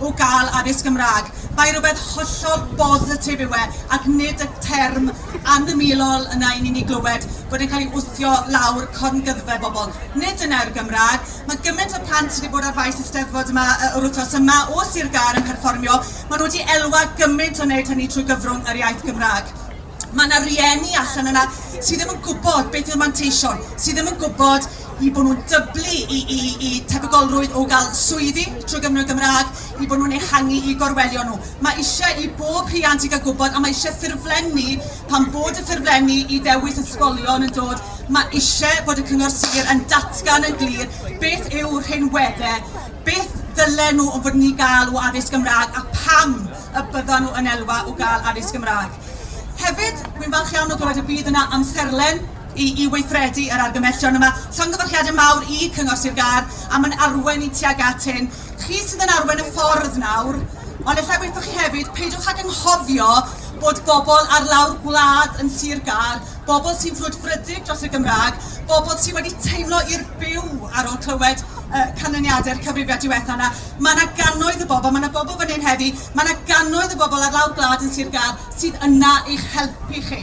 o gael addysg Gymraeg. Mae rhywbeth hollol bositif yw e, ac nid y term anamylol yna i ni'n ei glywed bod e'n cael ei wthio lawr corngyddfe bobl. Nid dyna yw'r Gymraeg. Mae gymaint o plant wedi bod ar faes y Steddfod yma yy yr wythnos yma o Sir Gâr yn perfformio. Maen nhw wedi elwa gymaint o wneud hynny trwy gyfrwng yr iaith Gymraeg. Mae yna rieni allan yna sydd ddim yn gwybod beth yw'r manteision, sydd ddim yn gwybod i bod nhw'n dyblu i i i tebygolrwydd o gael swyddi trwy Gymro Gymraeg, i bod nhw'n ehangu i gorwelion nhw. Mae eisiau i bob rhiant i gael gwybod a mae eisiau ffurflenni, pan bod y ffurflenni i ddewis ysgolion yn dod, mae eisiau bod y Cyngor Sir yn datgan yn glir beth yw rhinweddau, beth ddylen nhw fod yn ei gael o addysg Gymraeg a pam y byddan nhw yn elwa o gael addysg Gymraeg. Hefyd, wi'n falch iawn o glywed y bydd yna amserlen I weithredu yr argymhellion yma, llongyfarchiadau mawr i Cyngor Sir Gâr am yn arwain ni tuag at hyn. Chi sydd yn arwain y ffordd nawr, ond efallai waethoch chi hefyd, peidiwch ag anghofio bod bobl ar lawr gwlad yn Sir Gâr, bobl sy'n frwdfrydig dros y Gymraeg, bobl sydd wedi teimlo i'r byw ar ôl clywed y canlyniadau'r cyfrifiad diwetha' yna. Mae yna gannoedd o bobl, mae yna bobl fan hyn heddi, mae yna gannoedd o bobl ar lawr gwlad yn Sir Gâr sydd yna i'ch helpu chi.